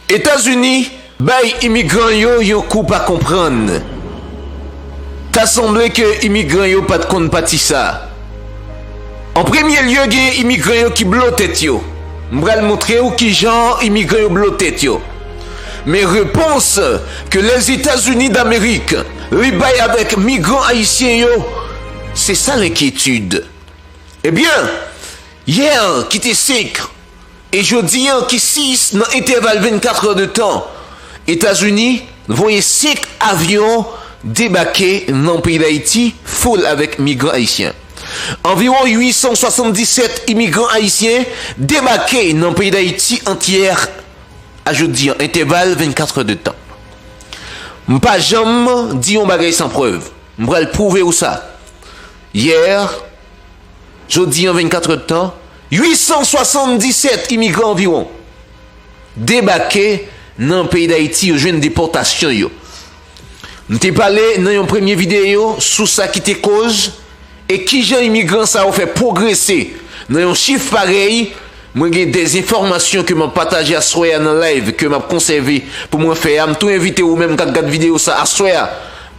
Etazini bay imigran yo yon kou pa konprann. Ta sanble ke imigran yo pat konn pati sa. An premye lye gen imigran yo ki blo tèt yo. M pral montre w kijan imigran yo blo tèt yo. Men repons ke Lèzetazini Damerik li bay avèk migran ayisyen yo. Se sa lenkyetid. Ebyen, yè ki te 5 e jodi an ki 6 nan entèval 24 è de tan, Etazini voye 5 avyon debake nan peyi Dayiti foul avèk migran ayisyen. Anviwon 877 imigran ayisyen debake nan peyi Dayiti ant yè a jodi an, entèval 24 è de tan. M pa janm di yon bagay san prèv. M pral pwouve ou sa. Hier, Jodi an 24 èd tan, 877 imigran anviwon debake nan peyi Dayiti yo jwenn depòtasyon yo. M te pale nan yon premye videyo sou sa ki te koz E kijan imigran sa yo fè pwogrese nan yon chif parèy? Mwen gen de enfòmasyon ke map pataje aswè a nan live ke map konsève pou mwen fè a. M tou envite ou menm kap gad video sa aswè a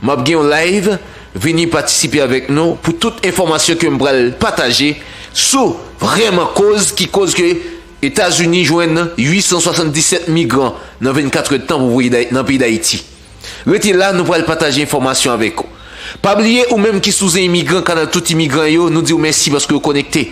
map gen yon live vini patisipe avèk nou pou tout enfòmasyon kem pral pataje sou vrèman koz ki koz ke Etazini jwenn 877 migran nan 24 èdtan pou voye nan peyi Dayiti. Rete la nou pral pataje enfòmasyon avèk ou. Pa bliye ou menm ki sou zen imigran kanal tout imigran yo nou diw mèsi paske ou konekte.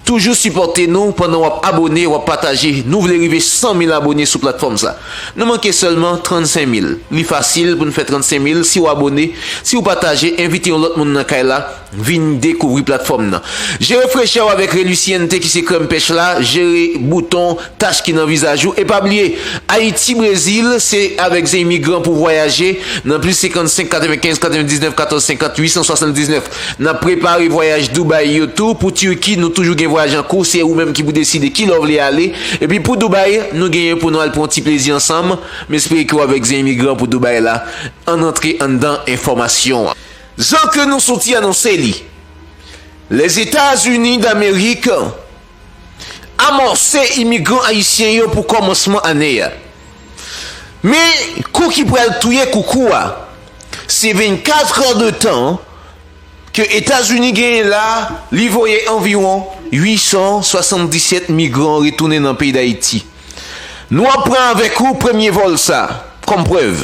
Toujou sipòte nou pandan wap abone wap pataje nou vle rive 100 mil abone sou platfòm sa. Nou manke sèlman 35 mil. Li fasil poun fè 35 mil si ou abone, si ou pataje, envite yon lòt moun nan kay la. Vin dekouvri platfòm nan. Jere frechè w avèk Reluciente ki se krèm pèch la, jere bouton, tach ki nan vizaj ou e pa bliye Ayiti Brezil se avèk Zemigran pou vwayaje nan plis 55 95 99 14 50 879 n ap prepare vwayaj Dubai yo tou pou Turquie nou toujou gen vwayaj an kou se ou menm ki pou deside ki lè w vle ale epi pou Dubai nou genyen pou nou al pran yon ti plezi ansanm m espere ke w avèk Zemigran pou Dubai la ann antre anndan enfòmasyon. Jan ke nou soti anonse li, Lèzetazini Damerik amòse imigran ayisyen yo pou kòmansman ane a. Men, kou ki pral touye koukou a, se 24 è de tan ke Etazini genyen la, li voye anviwon 877 migran retounen nan peyi Dayiti. Nou ap pran avèk ou premye vòl sa, kòm prèv.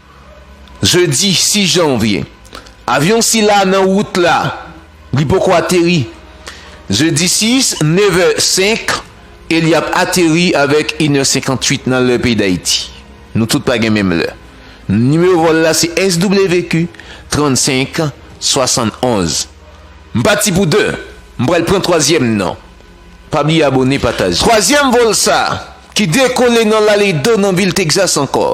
jedi 6 janvye. Avyon sila nan wout la, li poko ateri. Jedi 6, nevè 5, e li ap ateri avèk inè 58 nan lè peyi Dayiti. Nou tout pa gen menm lè. Nimewo vòl la se SWQ 35 71. M pati pou 2, m pral pran twazyèm nan. Pa bliye abone, pataje. Twazyèm vòl sa, ki dekole nan Laredo nan vil Texas ankò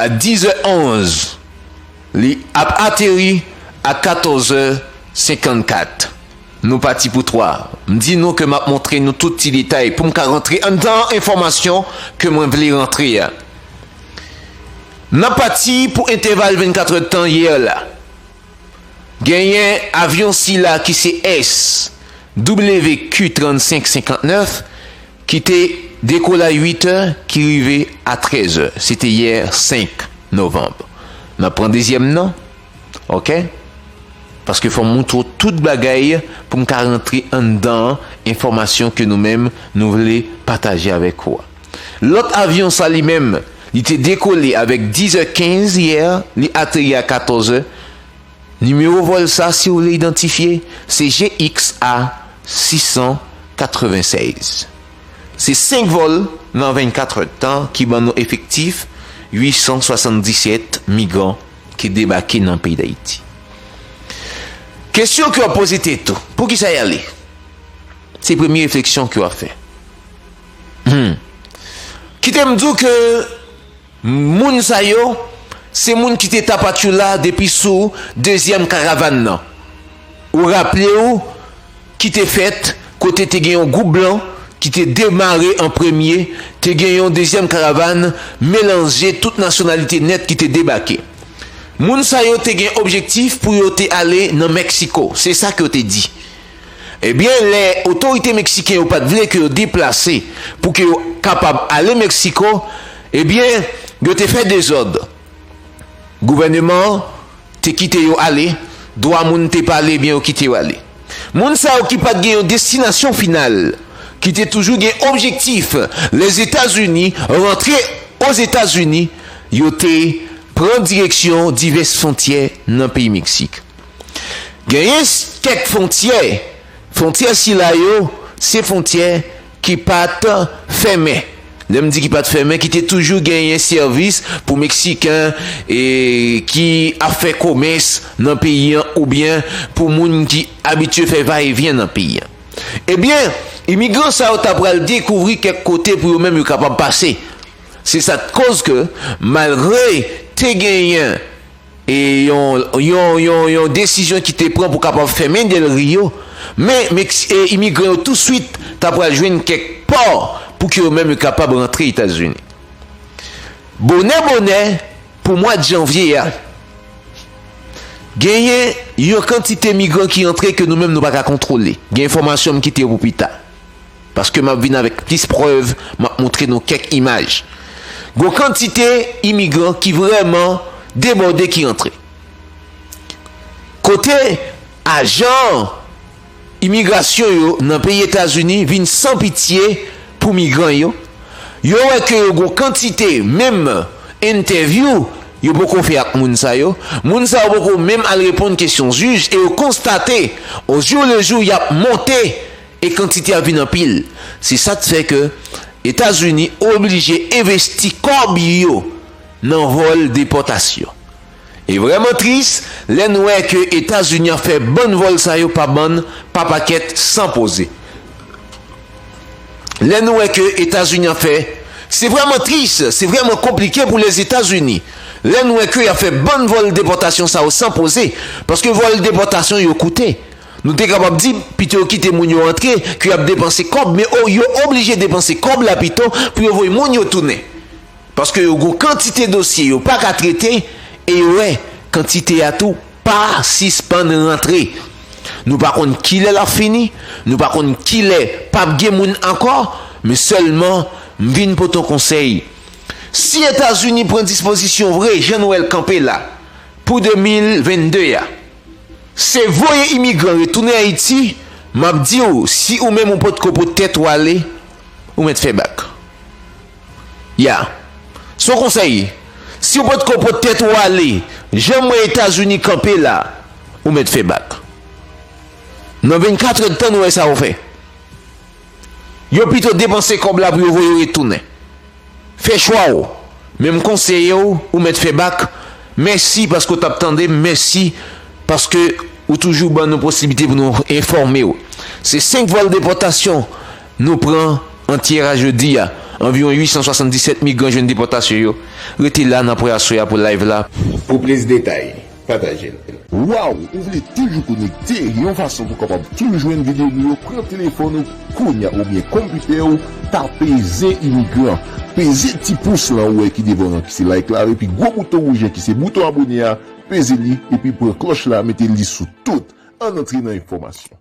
a 10 è 11 li ap ateri a 14 è 54 nou pati pou 3 m di nou ke map montre nou tout ti detay poum ka rantre anndan enfòmasyon ke mwen vle rantre a nap pati pou entèval 24 èdtan yè la. Genyen avyon sila ki se SW-QQ-3559 ki te dekolay 8 è ki rive a 13 è. Se te yè 5 novanb. Nan pran dezyèm nan. Ok. Paske fò m moutre w tout bagay pou m ka rantre anndan enfòmasyon ke nou menm nou vle pataje avèk ou a. Lòt avyon sa li menm, li te dekole avèk 10 è 15 yè, li ateri a 14 è. Nimewo vòl sa si w vle idantifye, se GXA 696. Se 5 vòl nan 24 è tan ki ban nou efektif 877 migran ki debake nan peyi Dayiti. Kesyon ke w ap poze tèt ou, poukisa y ale? Se premye refleksyon ke w ap fè. Humm. Kite m di w ke moun sa yo se moun ki te Tapachula depi sou dezyèm karavàn nan. Ou raple w ki te fèt kote te gen yon gwoup blan ki te demare an premye, te gen yon dezyèm karavàn melanje tout nasyonalite nèt ki te debake. Moun sa yo te gen objektif pou yo te ale nan Meksiko, se sa ke yo te di. Ebyen lè otorite meksiken yo pat vle ke yo deplase pou ke yo kapab ale Meksiko, ebyen yo te fè dezòd. Gouvèneman an te kite yo ale, dwa moun te pale ebyen yo kite yo ale. Moun sa yo ki pat gen yon destinasyon final, ki te toujou gen objektif Lèzetazini, rantre Ozetazini, yo te pran direksyon divès fontyè nan peyi Meksik. Genyen kèk fontyè, fontyè sila yo se fontyè ki pa t fèmen, lè m di ki pa t fèmen ki te toujou genyen sèvis pou Meksiken ki ap fè komès nan peyi an oubyen pou moun ki abitye fè va e vyen nan peyi an. Ebyen, imigran sa yo ta pral dekouvri kèk kote pou yo menm yo kapab pase. Se sa k koz ke malgre te genyen E yon yon yon yon desizyon ki te pran pou kapab fèmen Del Rio, men Meksi e imigran yo touswit ta pral jwenn kèk pò pou ke yo menm yo kapab rantre Etazini. Bonè bonè, pou mwad janvye a, genyen yon kantite migran ki antre ke nou menm nou pa ka kontwole. Gen enfòmasyon m kite yo pou pita. paske map vin avèk plis prèv, map montre nou kèk imaj. Gon kantite imigran ki vrèman debòde ki antre. Kote ajan imigrasyon yo nan peyi Etazini vin san pitye pou migran yo, yo wè ke yo gon kantite menm entèvyou yo poko fè ak moun sa yo, moun sa yo poko menm al reponn kesyon jij e yo konstate ojou lejou yap monte. e kantite a vin anpil, se sa t fè ke Etazini oblije envesti kòb yo nan vòl depòtasyon. E vrèman tris lè n wè ke Etazini ap fè bann vòl sa yo pa bann, pa pakèt, san poze. Lè nou wè ke Etazini ap fè, se vrèman tris, se vrèman konplike pou Lèzetazini, lè n wè ke y ap fè bann vòl depòtasyon sa yo san poze, paske vòl depòtasyon yo koute, Nou te kapab di, pito yo kite moun yo antre ke y ap depanse kòb, men o, yo oblije depanse kòb la pito pou yo voye moun yo tounen. Paske yo gon kantite dosye yo pa ka trete e yo wè kantite a tou pa sispann rantre. Nou pa konn kilè l ap fini, nou pa konn kilè p ap gen moun ankò, men sèlman m vin pote yon konsèy. Si Etazini pran dispozisyon vre jan nou wè l kanpe la pou 2022 a, Se voye imigran retounen ayiti map diw si ou menm ou pot ko pot tèt ou ale ou mèt fè bak ya se yon konsèy si ou pot ko pot tèt ou ale janm wè etazini kanpe la ou mèt fè bak nan 24 èd tan nou wè sa ou fè yo pito depanse kòb la pou yo voye ou retounen. Fè chwa w, men m konseye w ou mèt fè bak, mèsi paske w tap tande m, mèsi paske ou toujou ban nou posiblite pou nou enfòme w. Se 5 vòl depòtasyon nou pran an Tierra jodi a, anviwon 877 migran jwenn depòtasyon yo, rete la nan apre aswè a pou live la pou plis detay. Patajel. Waw ou vle toujou konekte yon fason pou kapab toujou jwenn video nou yo pran telefòn ou kounya oubyen konpitè ou tape zen imigran peze ti pous lan ou wè ki devan w lan ki se like la epi gwo bouton wouj lan ki se bouton abone a peze li epi pran klòch la mete li sou tout ann antre nan enfòmasyon.